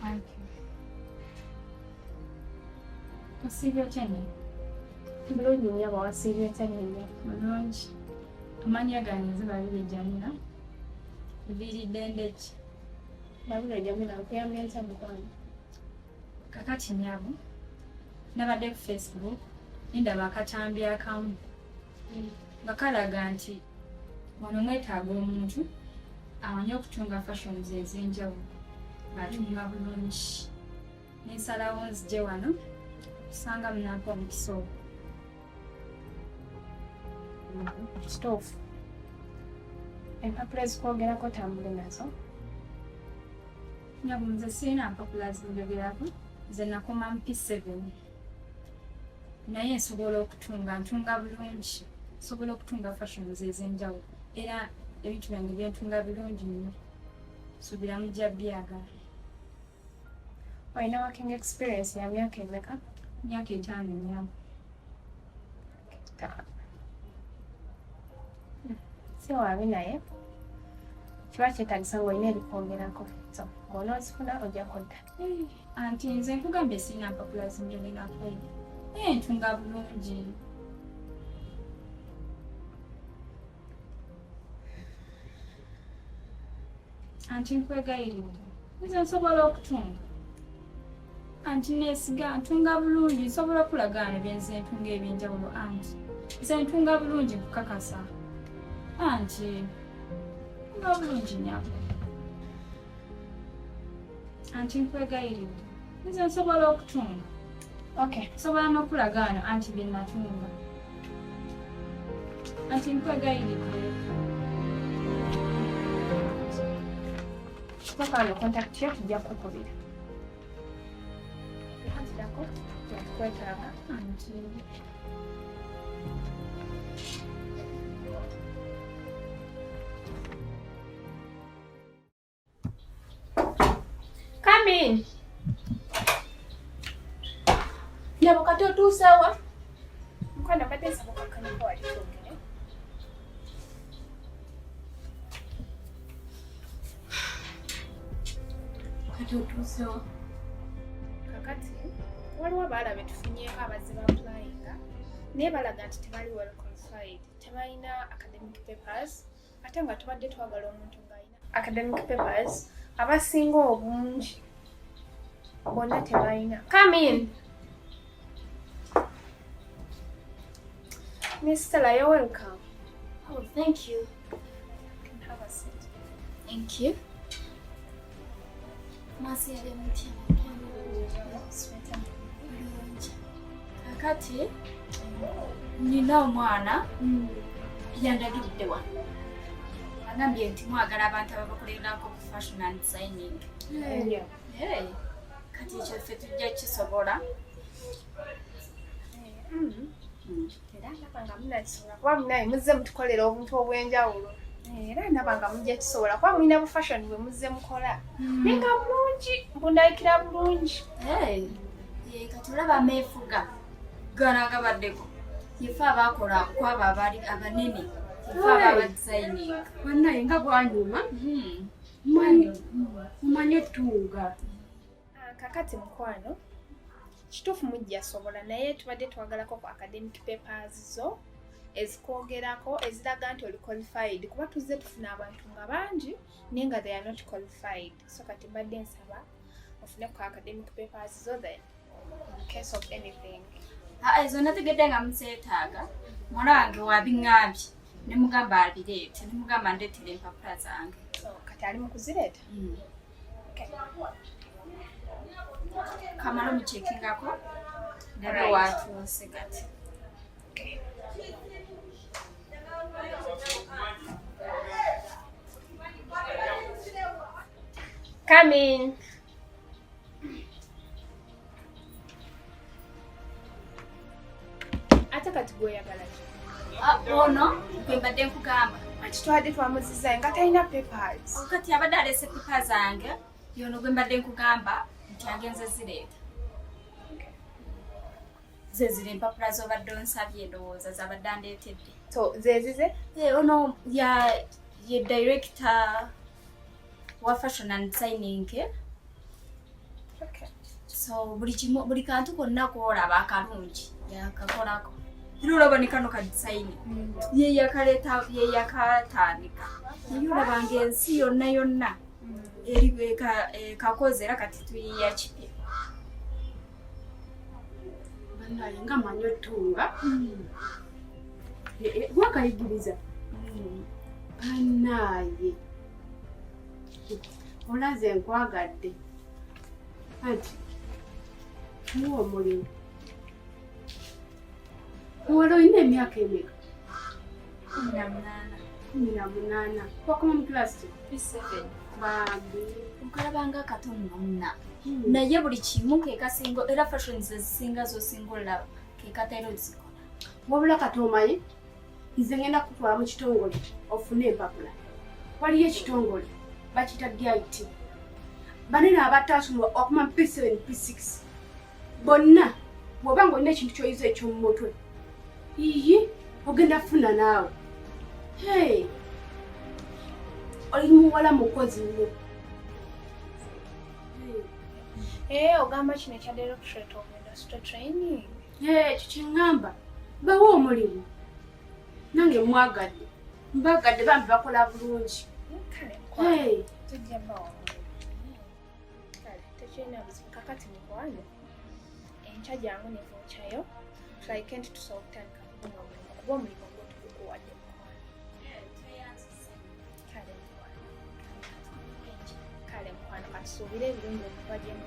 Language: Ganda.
Thank you. Wasiibye otya nnyini? Bulungi nnyo aba wasiibye otya nnyini? Bulungi. Amannya gange nze Babirye Jamila. Viiridde ndeki? Babirye Jamila nkuyambye ntya mukwano? Kakati nnyabo nabadde ku Facebook ndaba akatambi akamu nga kalaga nti wano mwetaaga omuntu amanyi okutunga fashions ez'enjawulo ng'atunga bulungi nensalawo nzije wano kusanga munampa omukisa ogwo kitoofu empapula ezikwogerako tambule nazo nyabo nze sirina mpapula zinjogerako nze nakoma mp seven naye nsobola okutunga ntunga bulungi nsobola okutunga fashions ez'enjawulo era ebintu byange byentunga birungi nnyo suubira mujja byagala olina working experience ya myaka emeka myaka etaano emyaka etaano si wabi naye kiba kyetagisa ngaolina ebikwogerako so ngaonoozifuna ojja kudda anti nze nkugambye sirina mpapula zinjogerako naye ntunga bulungi anti nkwegayiridde nze nsobola okutunga anti nesiga ntunga bulungi nsobola okulagaano byenze ntunga ebyenjawulo anti nze ntunga bulungi kukakasa anti ntunga bulungi nyabo anti nkwegayiridde nze nsobola okutunga okay nsobola n'okulagaano anti bye natunga anti nkwegayiridde kikakano kontakiti yo tujja kukubira ekatidako yakukwetaaga anti Come in. Nyabo kati otuusawa? Mkwano kati nsaba okakanya ko wali twogere. Kati otuusawa? Kakati waliwo abaala be tufunyeeko abazze ba applyinga naye balaga nti tebali well qualified tebalina academic papers ate nga tubadde twagala omuntu ng'alina academic papers abasinga obungi bonna tebalina come in miss stella you're welcome oh thank you have a seat thank you kati nina omwana mm. yandagidde wa agambye nti mwagala abantu ababakolererako ku fashion and signing kati ekyo ffe tujja kisobola mm. Mm. era ndaba nga munakisobola kuba munaye muzze mutukolera obuntu obw'enjawulo eh, era ndaba nga mujja kisobola kuba mulina bu fashion bwe muzze mukola hmm. naye nga bulungi mbundabikira bulungi eh, eh, kati olaba ameefuga gano agabaddeko yefe abaakola kwabo abali abanene yefe aba abadisayininga banaye nga bwanyuma hmm. mmanyi otuuga Ah, kakati mukwano kituufu mujja sobola naye tubadde twagalako ku academic papers zo ezikwogerako eziraga nti oli qualified kuba tuzze tufuna abantu nga bangi naye nga they are not qualified so kati mbadde nsaba ofune ku academic papers zo then in case of anything ah, ezo nategedde nga muzeetaaga mwana wange wabiŋambye nemugamba abireete nemugamba ndeetera empapula zange kati ali mu kuzireeta hmm. kamala omukyekingako nabe watuuse kati Come in. ate kati gwoyagala ki ah, ono gwe mbadde nkugamba kati twabadde twamuziza nga talina papers oh, kati abadde alese pepa zange yono gwe mbadde nkugamba nti agenze zireeta zezira empapula zobadde onsabye endowooza zabadde andeetedde zezize eh, ono ye director wa fashion and designing eh? okay. so buli kimu buli kantu konna koolaba akalungi yakakolako era olaba ne kano kadisayini mm. ye yakaleta ye yakatandika naye olaba nga ensi yonna yonna mm. eri eh, kakoze era kati tuyiya kipya banaye nga manyi otunga mm. eh, eh, gwakayigiriza banaye olaze nkwagadde anti muwa omulimu wala olina emyaka emeka kumi na munaana wakoma mu kilasi bambi okalabanga akatono namuna hmm. naye buli kimu kekasinga era fashion zezisinga zosinga olaba kekatera ozikola wabula katomaye nze ngenda kutwala mu kitongole ofune empapula waliyo ekitongole bakita dit banene abatasoma okuma p7 p6 bonna bwoba nga olina ekintu kyoyiza ekyomumutwe iyi ogenda funa naawe hey. oli muwala mukozi nyo ee eh, ogamba kino ekya directorate of industrial training ekyo kyeŋŋamba bawa omulimu nange mwagadde mbagadde bambi bakola bulungi kakati mukwano enkya jangu nevocayo tulaikenti tusobola okutandika kubona omulimu kuba omulimu gwotukukuwadde kale mukwano katusuubire ebirungi okuva gyemu